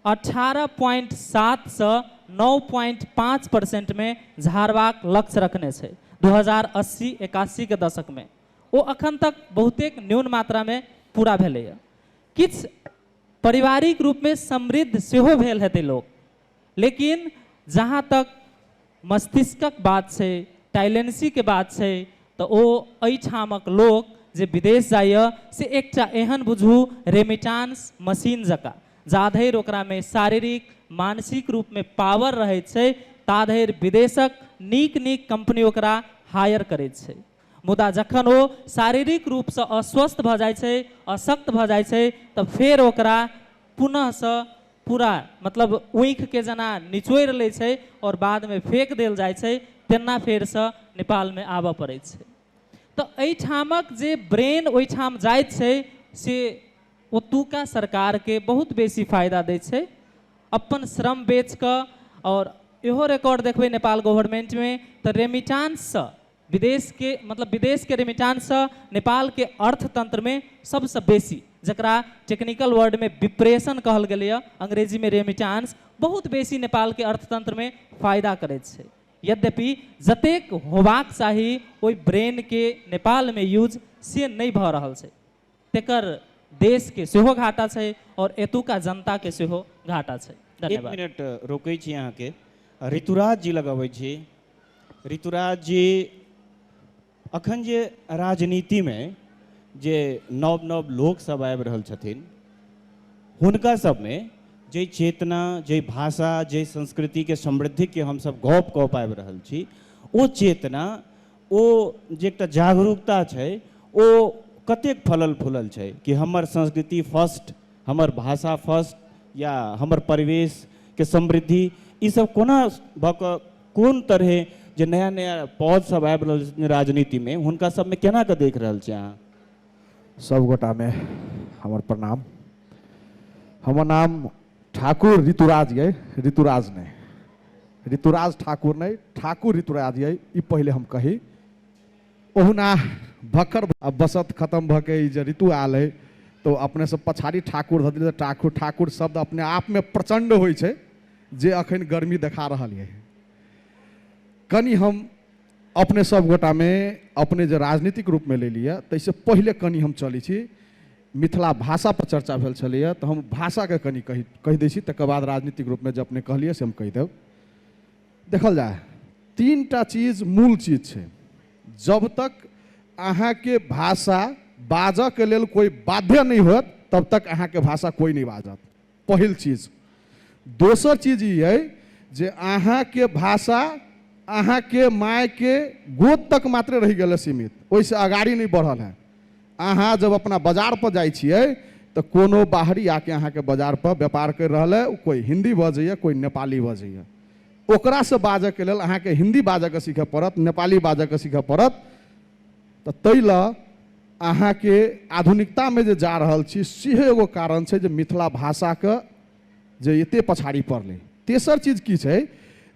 अठारह प्वाइंट सात सँ नौ प्वाइंट पाँच परसेंट मे झारबाक लक्ष्य रखने छै। दू हजार अस्सी एकासी के दशक मे ओ अखन तक बहुतेक न्यून मात्रा मे पूरा भेलैए। किछ पारिवारिक रूप मे समृद्ध सेहो भेल हेतै लोक। लेकिन जहाँ तक। मस्तिष्कक बात छै, टाइलेन्सी के बात छै त ओ अइ ठामक लोक जे विदेश जाइए से एकटा एहन बुझू रेमिटान्स मशीन जकाँ। जाधैर ओकरा मे शारीरिक, मानसिक रूप मे पावर रहैत छै ताधैर विदेशक नीक-नीक कम्पनी ओकरा हायर करैत छै। मुदा जखन ओ शारीरिक रूप सँ अस्वस्थ भ जाइत छै, अशक्त भ जाइत छै त फेर ओकरा पुनः सँ। पूरा मतलब ऊँखि के जेना निचोड़ि लै छै और बाद में फेक देल जाइ छै तेना फेर सँ नेपाल में आबऽ पड़ै छै तऽ एहिठामक जे ब्रेन ओहिठाम जाइत छै से ओतुका सरकार के बहुत बेसी फायदा दै छै अपन श्रम बेच कऽ और इहो रिकॉर्ड देखबै नेपाल गवर्नमेंट में तऽ रेमिटांस सँ विदेश के मतलब विदेश के रेमिटांस स नेपाल के अर्थतंत्र में सबस बेसी, जकरा टेक्निकल वर्ड में विप्रेषण कहल गेलय, अंग्रेजी में रेमिटांस, बहुत बेसी नेपाल के अर्थतंत्र में फायदा करैत छै। यद्यपि जतेक होबाक चाही ओइ ब्रेन के नेपाल में यूज से नै भ रहल छै। तेकर देश के सेहो घाटा छै और एतुका जनता के सेहो घाटा छै एक धन्यवाद मिनट रोकै छी अहाँके ऋतुराज जी लग अबै छी ऋतुराज जी अखन जे राजनीतिमे जे नव नव लोकसभ आबि रहल छथिन हुनका सभमे जे चेतना जे भाषा जे संस्कृतिके समृद्धिके हमसभ गप कऽ पाबि रहल छी ओ चेतना ओ जे एकटा जागरूकता छै ओ कतेक फलल फूलल छै कि हमर संस्कृति फर्स्ट हमर भाषा फर्स्ट या हमर परिवेशके समृद्धि ईसब कोना भऽ कऽ कोन तरहे जे नया नया पौध सब आबि रहल छै राजनीतिमे हुनका सबमे केना कऽ देख रहल छियै अहाँ सबगोटामे हमर प्रणाम हमर नाम ठाकुर ऋतुराज ये ऋतुराज नहीं ऋतुराज ठाकुर नहीं ठाकुर ऋतुराज ये ई पहले हम कही ओहुना भक्कर बसत खत्म भ के जे ऋतु आल है तो अपने से पछाड़ी ठाकुर धऽ ठाकुर ठाकुर शब्द अपने आप में प्रचंड हो जे अखन गर्मी देखा रहा है कनी हम अपने सब गोटा में अपने जो राजनीतिक रूप में ले लिया तैसे पहले कनी हम चली छी मिथिला भाषा पर चर्चा भेल छलैए तऽ हम भाषाके कनि कहि कहि दै छी तकर बाद राजनीतिक रूपमे जे अपने कहलियै से हम कहि देब देखल जाय तीन टा चीज मूल चीज छै जब तक अहाँके भाषा बाजऽके लेल कोइ बाध्य नहि होत तब तक अहाँके भाषा कोइ नहि बाजत पहिल चीज दोसर चीज ई अइ जे अहाँके भाषा अहाँके मायके गोद तक मात्र रहि गेल सीमित ओहिसँ अगाड़ी नहि बढ़ल है अहाँ जब अपना बाजार पर जाइ छियै तऽ कोनो बाहरी आके अहाँके बाजार पर व्यापार करि रहल है कोइ हिन्दी बजैए कोइ नेपाली बजैए ओकरासँ बाजऽके लेल अहाँके हिन्दी बाजऽके सीखऽ पड़त नेपाली बाजऽके सीखऽ पड़त तऽ ताहि लऽ अहाँके आधुनिकतामे जे जा रहल छी सेहो एगो कारण छै जे मिथिला भाषाके जे एते पछाड़ी पड़लै तेसर चीज की छै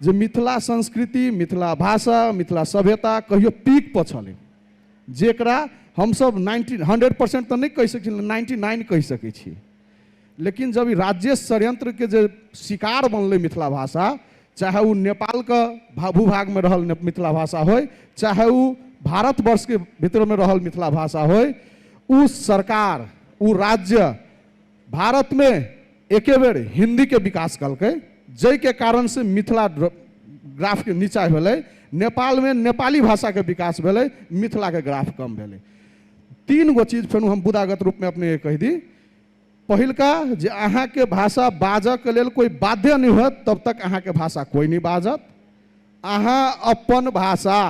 जे मिथिला संस्कृति मिथिला भाषा मिथिला सभ्यता कहियो पीक पर छलै जेकरा हमसभ नाइन्टी हंड्रेड परसेंट तऽ नहि कहि सकै छी नाइन्टी नाइन कहि सकै छी लेकिन जब ई राज्य षड्यंत्रके जे शिकार बनलै मिथिला भाषा चाहे ओ नेपालके भा- भूभागमे रहल ने- मिथिला भाषा होय चाहे ओ भारतवर्षके भितरमे रहल मिथिला भाषा होय ओ सरकार ओ राज्य भारतमे एके बेर हिन्दीके विकास कलकै जाहिके कारण से मिथिला ड्र- ग्राफके नीचा भेलै नेपालमे नेपाली भाषाके विकास भेलै मिथिलाके ग्राफ कम भेलै तीन गो चीज फेर हम बुदागत रूपमे अपने कहि दी पहिलका जे अहाँके भाषा बाजऽके लेल कोइ बाध्य नहि होत तब तक अहाँके भाषा कोइ नहि बाजत अहाँ अपन भाषा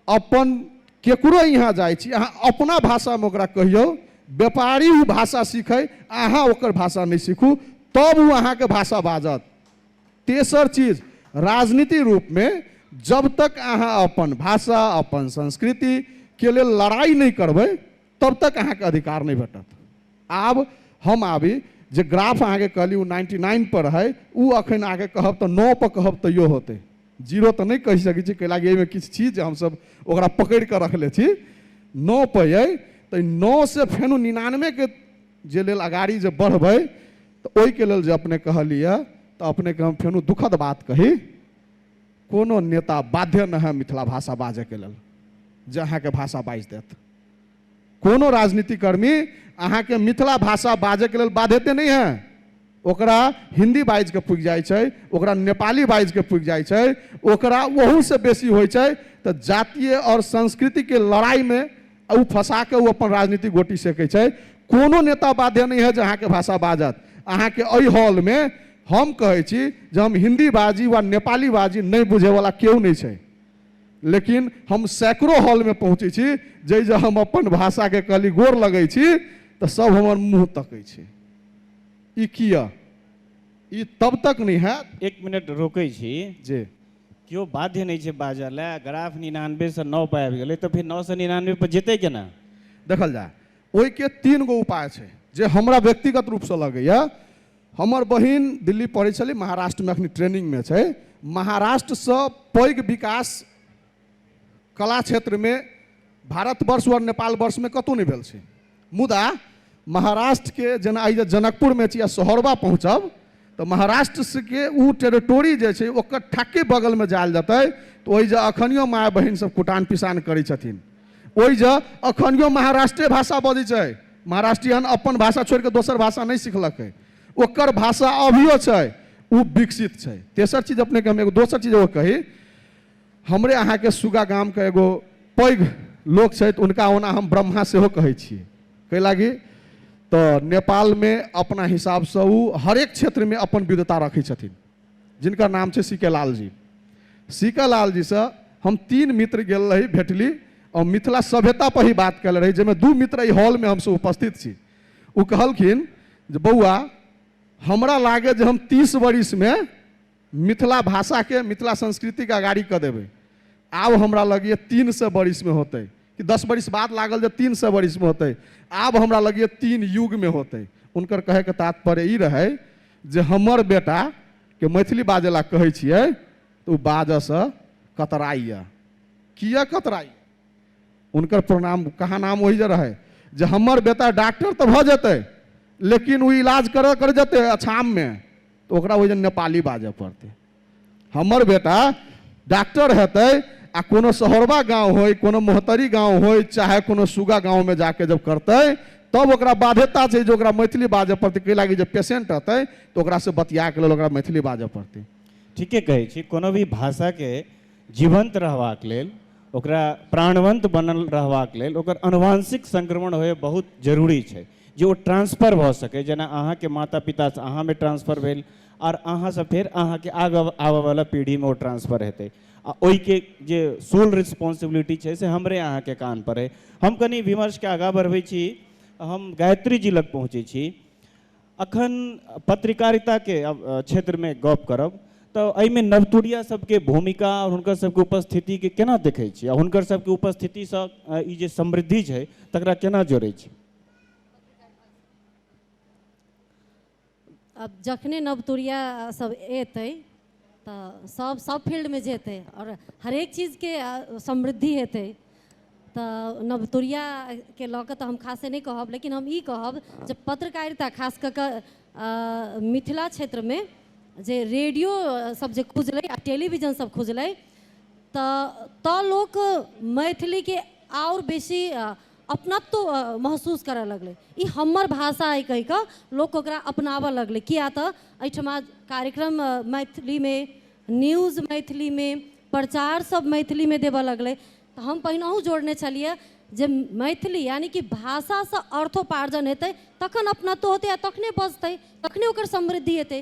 अपन केकरो यहाँ जाइ छी अहाँ अपना भाषामे ओकरा कहियौ व्यापारी ओ भाषा सीखै अहाँ ओकर भाषा नहि सीखू तब ओ अहाँके भाषा बाजत तेसर चीज राजनीति रूपमे जब तक अहाँ अपन भाषा अपन संस्कृतिके लेल लड़ाइ नहि करबै तब तक अहाँके अधिकार नहि भेटत आब हम आबी जे ग्राफ अहाँके कहली ओ नाइन्टी नाइन पर है ओ अखन अहाँके कहब तऽ नओ पर कहब तैयो होतै जीरो तऽ नहि कहि सकै छी कैला कि एहिमे किछु छी जे हमसभ ओकरा पकड़ि कऽ रखले छी नओ पर अइ तऽ नओ से फेनो निनानबेके जे लेल अगाड़ी जे बढ़बै तऽ ओहिके लेल जे अपने कहलियै तऽ अपनेके हम फेनो दुखद बात कही कोनो नेता बाध्य न है मिथिला भाषा बाजय के लेल जे अहाँके भाषा बाजि देत कोनो राजनीति कर्मी अहाँके मिथिला भाषा बाजय के लेल बाध्यते नहि है ओकरा हिन्दी बाजि कऽ पुगि जाइ छै ओकरा नेपाली बाजि कऽ पुगि जाइ छै ओकरा ओहूसँ बेसी होइ छै तऽ जातीय आओर संस्कृतिके लड़ाइमे आ ओ फँसा कऽ ओ अपन राजनीतिक गोटी सेकै छै कोनो नेता बाध्य नहि है जे अहाँके भाषा बाजत अहाँके एहि हॉलमे हम कहै छी जे हम हिन्दी बाजी वा नेपाली बाजी नहि बुझैवला केओ नहि छै लेकिन हम सैकड़ो हॉलमे पहुँचै छी जाहि जे हम अपन भाषाके कहली गोर लगै छी तऽ सभ हमर मुँह तकै छै ई किए ई तब तक नहि हैत एक मिनट रोकै छी जे केओ बाध्य नहि छै बाजऽ लए ग्राफ निनानबेसँ नओ पर आबि गेलै तऽ फेर नओसँ निनानबे पर जेतै केना देखल जाय ओहिके तीन गो उपाय छै जे हमरा व्यक्तिगत रूपसँ लगैए हमर बहिन दिल्ली पढ़ै छलै महाराष्ट्रमे एखन ट्रेनिंगमे छै महाराष्ट्रसँ पैघ विकास कला क्षेत्रमे भारतवर्ष आओर नेपाल वर्षमे कतहु नहि भेल छै मुदा महाराष्ट्र के जेना आइ जे जनकपुर में छी आ सोहरबा पहुँचब तऽ महाराष्ट्र से के ओ टेरिटोरी जे छै ओकर ठक्के बगल में जायल जेतै तऽ ओहि जे अखनियो माय बहिन सब कुटान पिसान करै छथिन ओहि जे अखनियो महाराष्ट्रे भाषा बजै छै महाराष्ट्रियन अपन भाषा छोड़ि कऽ दोसर भाषा नहि सिखलकै ओकर भाषा अभियो छै ओ विकसित छै तेसर चीज अपनेके हम एगो दोसर चीज एगो कही हमरे अहाँके सुगा गामके एगो पैघ लोक छथि हुनका ओना हम ब्रह्मा सेहो कहै छी कै लागी तऽ नेपालमे अपना हिसाबसँ ओ हरेक क्षेत्रमे अपन विधता रखै छथिन जिनकर नाम छै C K Lalji C K लालजीसँ हम तीन मित्र गेल रही भेटली आओर मिथिला सभ्यता पर ही बात कयल रही जाहिमे दू मित्र एहि हॉलमे हमसभ उपस्थित छी ओ कहलखिन जे बौआ हमरा लागे जे हम तीस वर्षमे मिथिला भाषाके मिथिला संस्कृतिके अगाडि कऽ देबै आब हमरा लगैए तीन सए बरिसमे होतै कि दस बरिस बाद लागल जे तीन सए बरिसमे होतै आब हमरा लगैए तीन युगमे होतै हुनकर कहैके तात्पर्य ई रहै जे हमर बेटाके मैथिली बाजै लए कहै छियै तऽ ओ बाजऽसँ कतराइए किए कतराइए हुनकर प्रणाम कहाँ नाम ओहि जे रहै जे हमर बेटा डॉक्टर तऽ भऽ जेतै लेकिन ओ इलाज करऽ कर जेतै अछाममे तऽ ओकरा ओहि नेपाली बाजय पड़तै हमर बेटा डॉक्टर हेतै आ कोनो शहरवा गांव होय कोनो मोहतरी गांव होय चाहे कोनो सुगा गांव में जाके जब करतै तब ओकरा बाध्यता छै जे ओकरा मैथिली बाजय पड़तै कै लागी जे पेशेंट रहतै तऽ ओकरासँ बतिया के लेल ओकरा मैथिली बाजय पड़तै ठीके कहै छी कोनो भी भाषाके जीवंत रहबाक लेल ओकरा प्राणवंत बनल रहबाक लेल ओकर अनुवांशिक संक्रमण होय बहुत जरूरी छै जे ओ ट्रान्सफर भऽ सकै जेना अहाँके माता पितासँ अहाँमे ट्रान्सफर भेल आओर अहाँसँ फेर अहाँके आगाँ आबऽवला पीढ़ीमे ओ ट्रान्सफर हेतै आ ओहिके जे सोल रिस्पॉन्सिबिलिटी छै से हमरे अहाँके कान पर अइ हम कनि विमर्शके आगाँ बढ़बै छी हम गायत्री जी लग पहुँचै छी अखन पत्रकारिताके क्षेत्रमे गप करब तऽ एहिमे नवतुरिया सबके भूमिका आओर हुनकर सबके उपस्थितिके केना देखै छी आओर हुनकर सबके उपस्थितिसँ ई जे समृद्धि छै तकरा केना जोड़ै छी कथी कहि रहल छी आब जखने नवतुुरिया सभ एतै तऽ सभ सभ फील्डमे जेतै आओर हरेक चीजके समृद्धि हेतै तऽ नवतुरिया के लऽ कऽ तऽ हम खासे नहि कहब लेकिन हम ई कहब जे पत्रकारिता खास कऽ कऽ अ मिथिला क्षेत्रमे जे रेडियो सभ जे खुजलै आ टेलीविजन सभ खुजलै तऽ तऽ लोक मैथिलीके आओर बेसी अपनत्व महसूस करऽ लगलै ई हमर भाषा अइ कहि कऽ लोक ओकरा अपनाबऽ लगलै किया तऽ एहिठमा कार्यक्रम मैथिलीमे न्यूज मैथिलीमे प्रचार सब मैथिलीमे देबऽ लगलै तऽ हम पहिनहु जोड़ने छलियै जे मैथिली यानि कि भाषासँ अर्थोपार्जन हेतै तखन अपनत्व होतै आ तखने बजतै तखने ओकर समृद्धि हेतै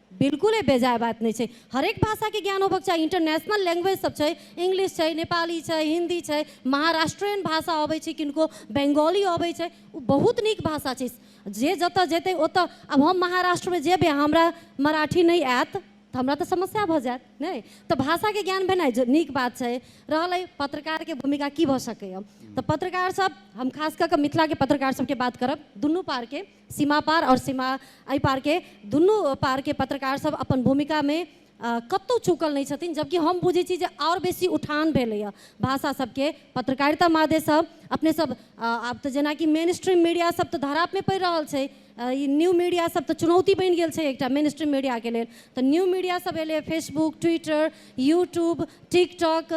बिल्कुले बेजाय बात नहि छै हरेक भाषाके ज्ञान होबक चाही इंटरनेशनल लैंग्वेज सब छै इंग्लिश छै नेपाली छै हिन्दी छै महाराष्ट्रियन भाषा अबै छै किनको बंगाली अबै छै ओ बहुत नीक भाषा छै जे जतऽ जेतै ओतऽ आब हम महाराष्ट्रमे जेबै आ हमरा मराठी नहि आयत तऽ हमरा तऽ समस्या भऽ जायत नहि तऽ भाषाके ज्ञान भेनाइ ज- नीक बात छै रहल अइ पत्रकारके भूमिका की भऽ सकैए तऽ पत्रकार सब हम खास कऽ कऽ मिथिलाके पत्रकार सबके बात करब दुनू पारके सीमापार आओर सीमा एहिपारके दुनू पारके पत्रकारसभ अपन भूमिकामे कतहु चूकल नहि छथिन जबकि हम बुझै छी जे आओर बेसी उठान भेलैए भाषा सबके पत्रकारिता माध्यमसँ अपने सब आब तऽ जेनाकि मेन स्ट्रीम मीडिया सब तऽ धरापमे पड़ि रहल छै ई न्यू मीडिया सब तऽ चुनौती बनि गेल छै एकटा मेन स्ट्रीम मीडियाके लेल तऽ न्यू मीडिया सब एलै फेसबुक ट्विटर यूट्यूब टिकटॉक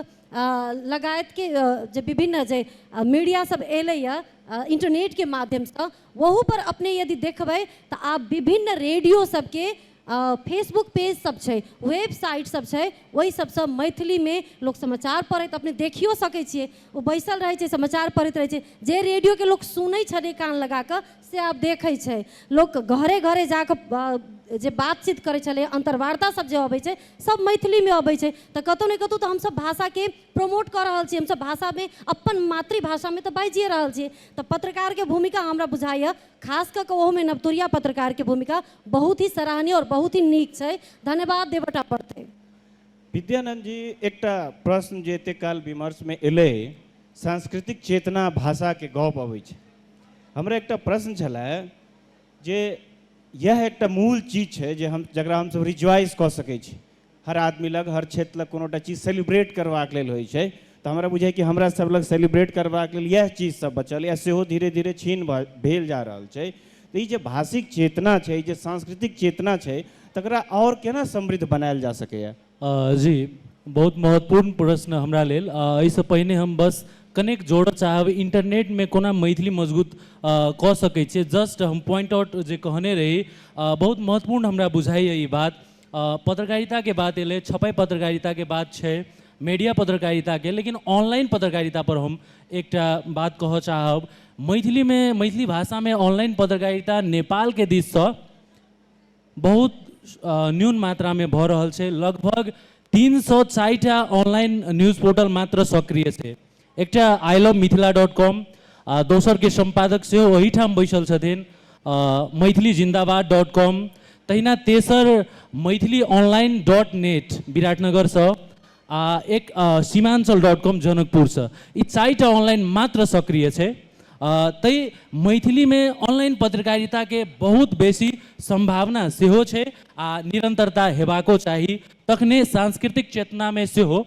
लगायतके जे विभिन्न जे मीडिया सब एलैए इंटरनेटके माध्यमसँ वहू पर अपने यदि देखबै तऽ आब विभिन्न रेडियो सबके अ, फेसबुक पेज सब छै वेबसाइट सब छै ओहि सबसँ मैथिलीमे लोक समाचार पढ़ैत अपने देखियो सकै छियै ओ बैसल रहै छै समाचार पढ़ैत रहै छै जे रेडियोके लोक सुनै छलै कान लगा कऽ से आब देखै छै लोक घरे घरे जा कऽ अ, जे बातचीत करै छलै अन्तर्वार्ता सब जे अबै छै सब मैथिलीमे अबै छै तऽ कतहु ने कतहु तऽ हमसब भाषाके प्रमोट कऽ रहल छी हमसभ भाषामे अपन मातृभाषामे तऽ बाजिए रहल छी तऽ पत्रकारके भूमिका हमरा बुझाइए खास कऽ कऽ ओहोमे नवतुरिया पत्रकारके भूमिका बहुत ही सराहनीय आओर बहुत ही नीक छै धन्यवाद देवटा पड़तै विद्यानंद जी एकटा प्रश्न जे एतेक काल विमर्शमे एलै सांस्कृतिक चेतना भाषाके गप अबै छै हमरा एकटा प्रश्न छलै जे यह एकटा मूल चीज छै जे हम जकरा हमसभ रिज्वाइज कऽ सकै छी हर आदमी लग हर क्षेत्र लग कोनो टा चीज सेलिब्रेट करबाक लेल होइ छै तऽ हमरा बुझाइ कि हमरा सब लग सेलिब्रेट करबाक लेल इएह चीज सब बचल यऽ सेहो धीरे धीरे छीन भेल जा रहल छै तऽ ई जे भाषिक चेतना छै जे सांस्कृतिक चेतना छै तकरा आओर केना समृद्ध बनायल जा सकैए जी बहुत महत्वपूर्ण प्रश्न हमरा लेल एहिसँ पहिने हम बस कनेक जोड़ऽ चाहब इंटरनेटमे कोना मैथिली मजबूत कऽ सकै छियै जस्ट हम पॉइंट आउट जे कहने रही बहुत महत्वपूर्ण हमरा बुझाइए ई बात पत्रकारिताके बात एलै छपै पत्रकारिताके बात छै मीडिया पत्रकारिताके लेकिन ऑनलाइन पत्रकारितापर हम एकटा बात कहऽ चाहब मैथिलीमे मैथिली भाषामे ऑनलाइन पत्रकारिता नेपालके दिससँ बहुत न्यून मात्रामे भऽ रहल छै लगभग तीन सए साठिटा ऑनलाइन न्यूज पोर्टल मात्र सक्रिय छै एकटा I love Mithila dot com आ दोसर के सम्पादक से वही ठाम बैसल छथिन मैथिली जिंदाबाद डॉट कॉम तहिना तेसर Maithili online dot net Biratnagar से आ एक सीमांचल डॉट कॉम जनकपुर से ई चारिटा ऑनलाइन मात्र सक्रिय है तै मैथिली में ऑनलाइन पत्रकारिता के बहुत बेसी संभावना से हो आ निरंतरता हेबाको चाहिए तखने सांस्कृतिक चेतना में से हो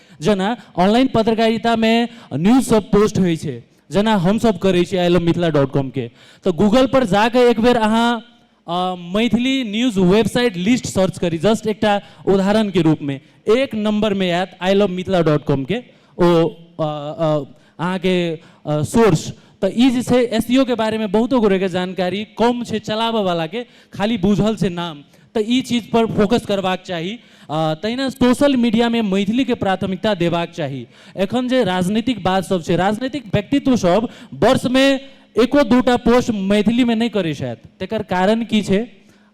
जेना ऑनलाइन पत्रकारितामे न्यूज सब पोस्ट होइ छै जेना हमसब करै छी आई लव मिथिला डॉट कॉमके तऽ गूगलपर जा कऽ एक बेर अहाँ Maithili news website list search करी जस्ट एकटा उदाहरणके रूपमे एक नम्बरमे आयत आई लव मिथिला डॉट कॉमके ओ अहाँके सोर्स तो ई जे छै एस के बारेमे बहुतो गोरेके जानकारी कम छै चलाबऽवलाके खाली बुझल छै नाम तऽ ई चीजपर फोकस करबाक चाही तहिना सोशल मीडियामे मैथिलीके प्राथमिकता देबाक चाही एखन जे राजनीतिक बातसभ छै राजनीतिक व्यक्तित्वसभ वर्षमे एको दूटा पोस्ट मैथिलीमे नहि करै छथि तकर कारण की छै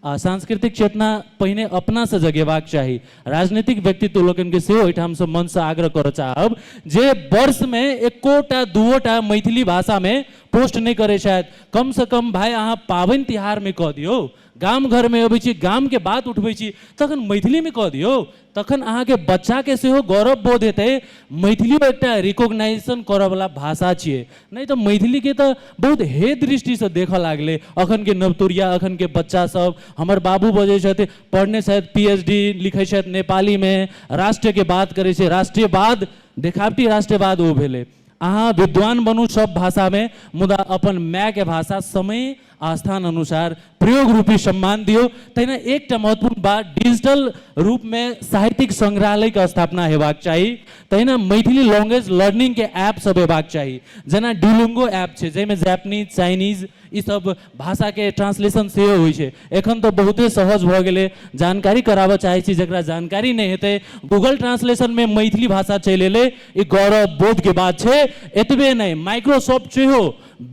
आ सांस्कृतिक चेतना पहिने अपना सँ जगेबाक चाही। राजनीतिक व्यक्तित्व लोकनि केँ सेहो एहिठाम सँ मंच सँ आग्रह करय चाहब जे वर्ष मे एको टा दूओ टा मैथिली भाषा मे पोस्ट नहि करय छथि। कम सँ कम भाय अहाँ पाबनि तिहार मे कऽ दियौ। गाम घर मे अबै छी, गाम केँ बात उठबै छी तखन मैथिली मे कऽ दियौ। तखन अहाँके बच्चाके सेहो गौरव बोध हेतै मैथिलियो एकटा रिकोगनाइजेशन करऽवला भाषा छियै नहि तऽ मैथिलीके तऽ बहुत हे दृष्टिसँ देखऽ लागलै अखनके नवतुरिया अखनके बच्चा सब हमर बाबू बजै छथि पढ़ने छथि पी एच डी लिखै छथि नेपालीमे राष्ट्रके बात करै छै राष्ट्रीयवाद देखावटी राष्ट्रीयवाद ओ भेलै अहाँ विद्वान बनू सब भाषामे मुदा अपन मायके भाषा समय आस्थान अनुसार प्रयोग रूपी सम्मान दियो तहिना एकटा महत्वपूर्ण बात डिजिटल रूप में साहित्यिक संग्रहालय के स्थापना हेबाक चाहिए तहिना मैथिली लैंग्वेज लर्निंग के ऐप सब हेबाक चाहिए जेना डुलुंगो ऐप छै जाहिमे जापानीज चाइनीज ई सब भाषा के ट्रांसलेशन से हो एखन तो बहुते सहज भ गए जानकारी कराबऽ चाहे छी जरा जानकारी नहीं हेतै गूगल ट्रांसलेशन में मैथिली भाषा चलि एलै ई गौरव बोध के बात छै एतबे नहीं माइक्रोसॉफ्ट सेहो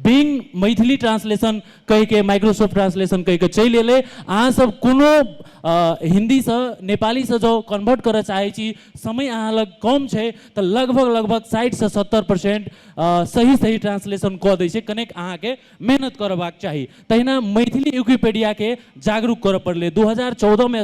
बिंग मैथिली ट्रांसलेशन कहि के माइक्रोसॉफ्ट ट्रांसलेशन कहि के चलि एलै अहाँ सब कोनो हिंदी से नेपाली से जो कन्वर्ट करऽ चाहै छी समय अहाँ लग कम छै तऽ लगभग लगभग साठि से सत्तर परसेंट सही सही ट्रांसलेशन कऽ दै छै कनेक अहाँके मेहनत करबाक चाही तहिना मैथिली विकिपीडिया के जागरूक करऽ पड़लै दू हजार चौदह मे